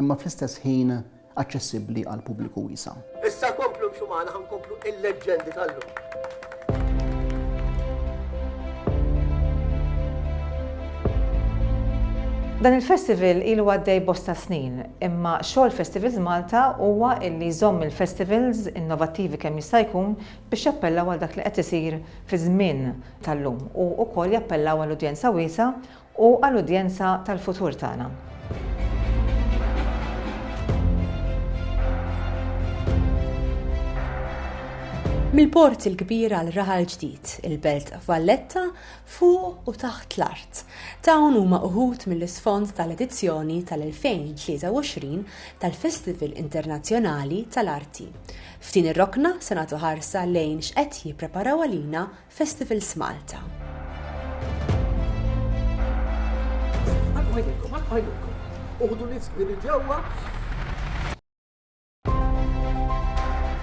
imma fl-istess ħin aċċessibbli għal pubbliku wiesa'. Issa komplu mxu magħna ħa nkomplu il-leġġendi tal-lum. Dan il-festival ilu għaddej bosta snin, imma xogħol Festivals Malta huwa illi jżomm il-festivals innovattivi kemm jista' jkun biex jappellaw għal dak li qed isir fiż-żmien tal-lum u wkoll jappellaw għal udjenza wiesa' u għall-udjenza tal-futur tagħna. Mill-Port il-Kbir għal raħal ġdid, il-Belt Valletta fuq u taħt l-art. Dawn huma uħud mill-isfond tal-edizzjoni tal-2023 tal-Festival Internazzjonali tal-Arti. F'din ir-rokna se nagħtu ħarsa lejn x'qed jippreparaw għalina Festivals Malta. Ħalqu ħajnejkom, ħalqu ħajnejkom. Uħdu nifs kbir il-ġewwa.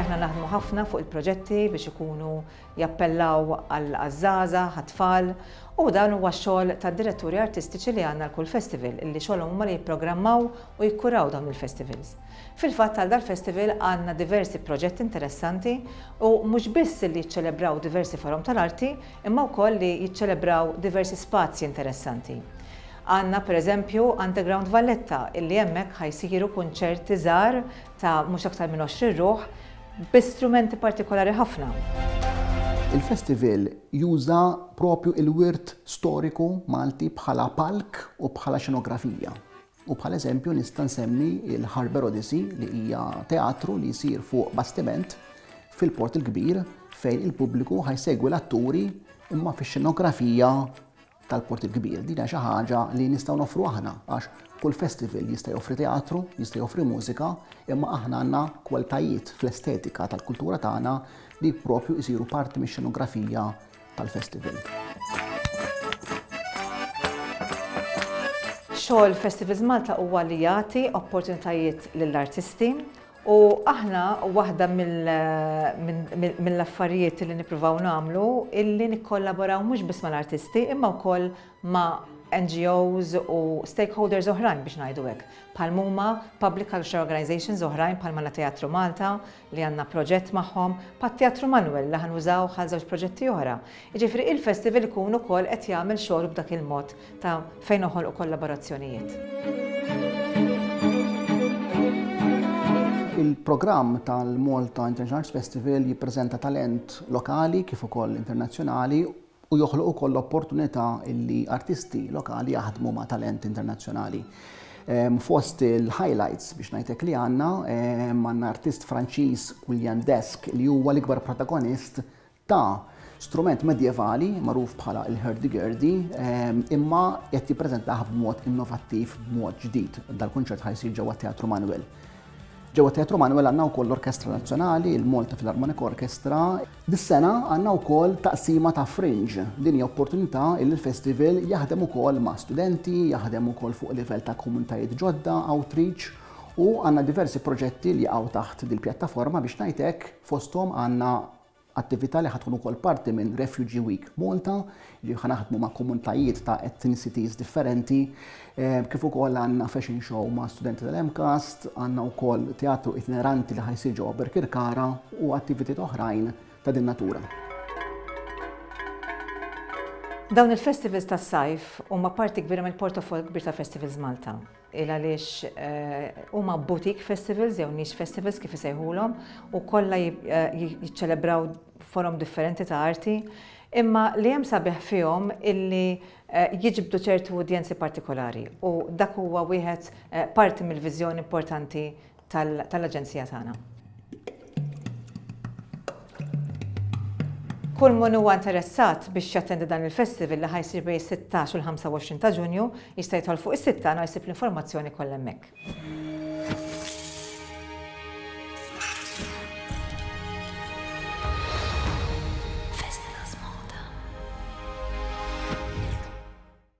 Aħna naħdmu ħafna fuq il-proġetti biex ikunu jappellaw għall-għażaża, għat-tfal, u dan huwa x-xogħol tad-diretturi artistiċi li għandna l-kull festival, illi xogħolhom huma li jipprogrammaw u jikkuraw dawn il-festivals. Fil-fatt għal dal-festival għandna diversi proġetti interessanti u mhux biss li jiċċelebraw diversi forom tal-arti imma wkoll li jiċċelebraw diversi spazji interessanti. Għandna per eżempju Underground Valletta illi hemmhekk ħa jsiru kunċerti żgħar ta' mhux aktar minn 20 ruħ bi strumenti partikolari ħafna. Il-festival juża proprju il-wirt storiku Malti bħala palk u bħala xenografija. u bħala eżempju nista' nsemmi l-Harbour Odyssey li hija teatru li jsir fuq bastiment fil-Port il-Kbir fejn il-pubbliku ħajsegwi l-atturi imma fix-xenografija tal-Port il-Kbir. Din hija xi ħaġa li nistgħu noffru aħna għax kull festival jista' joffri teatru, jista' joffri mużika, imma aħna għandna kwalitajiet fl-estetika tal-kultura tagħna li propju jsiru parti mix-xenografija tal-festival. Xogħol Festivals Malta huwa li jagħti opportunitajiet lill-artisti u aħna waħda mill-affarijiet li nippruvaw nagħmlu illi nikkollaboraw mhux biss mal-artisti imma wkoll ma' NGOs u stakeholders oħrajn biex ngħidu hekk, bħal huma public cultural organizations oħrajn bħal Malateatru Malta, li għandna proġett magħhom, bħat-Teatru Manwel li ħa nużawh għal żewġ proġetti oħra. Jiġifieri il-festival ikun ukoll qed jagħmel xogħlu b'dak il-mod ta' fejn noħolqu kollaborazzjonijiet. Il-programm tal-Malta International Arts Festival jippreżenta talent lokali kif ukoll internazzjonali u joħloq ukoll l-opportunità li artisti lokali jaħdmu ma' talent internazzjonali. Fost il-highlights biex ngħidlek li għandna, għandna artist Franċiż William Desk li huwa l-ikbar protagonist ta' strument medjevali magħruf bħala l-hurdy-gurdy imma qed jippreżentah b'mod innovattiv, b'mod ġdid. Dal-kunċert ħa jsir ġewwa t-Teatru Manwel. Ġewwa t-Teatru Manwel għandna wkoll l-Orkestra Nazzjonali, il-Malta Philharmonic Orchestra, Dis-sena għandna wkoll taqsima ta' Fringe. Din hija opportunità illi l-Festival jaħdem ukoll ma' studenti, jaħdem ukoll fuq livell ta' komunitajiet ġodda, outreach, u għandna diversi proġetti li jaqgħu taħt dil-pjattaforma biex ngħid hekk, fosthom għandna attività li ħa tkun ukoll parti minn Refugee Week Malta li ħa naħdmu ma' komunitajiet ta' ethnicities differenti, kif ukoll għandna fashion show ma' studenti tal-MCAST, għandna wkoll teatru itineranti li ħajsir ġewwa Birkirkara u attivitiet oħrajn ta' din natura. Dawn il-festivals tas-sajf huma parti kbira mill-portafoll kbir ta' Festivals Malta. il għaliex huma boutique festivals jew niche festivals kif isejħulhom u kollha jiċċelebraw forom differenti ta' arti, imma li hemm sabiħ fihom illi jiġbdu ċertu udjenzi partikolari u dak huwa wieħed parti mill-viżjoni importanti tal-Aġenzija tagħna. Kull min huwa interessat biex jattendi dan il-festival li ħa jsir bejn is-16 u l-25 ta' Ġunju jista' jidħol fuq is-sit tagħna u jsib l-informazzjoni kollha hemmhekk.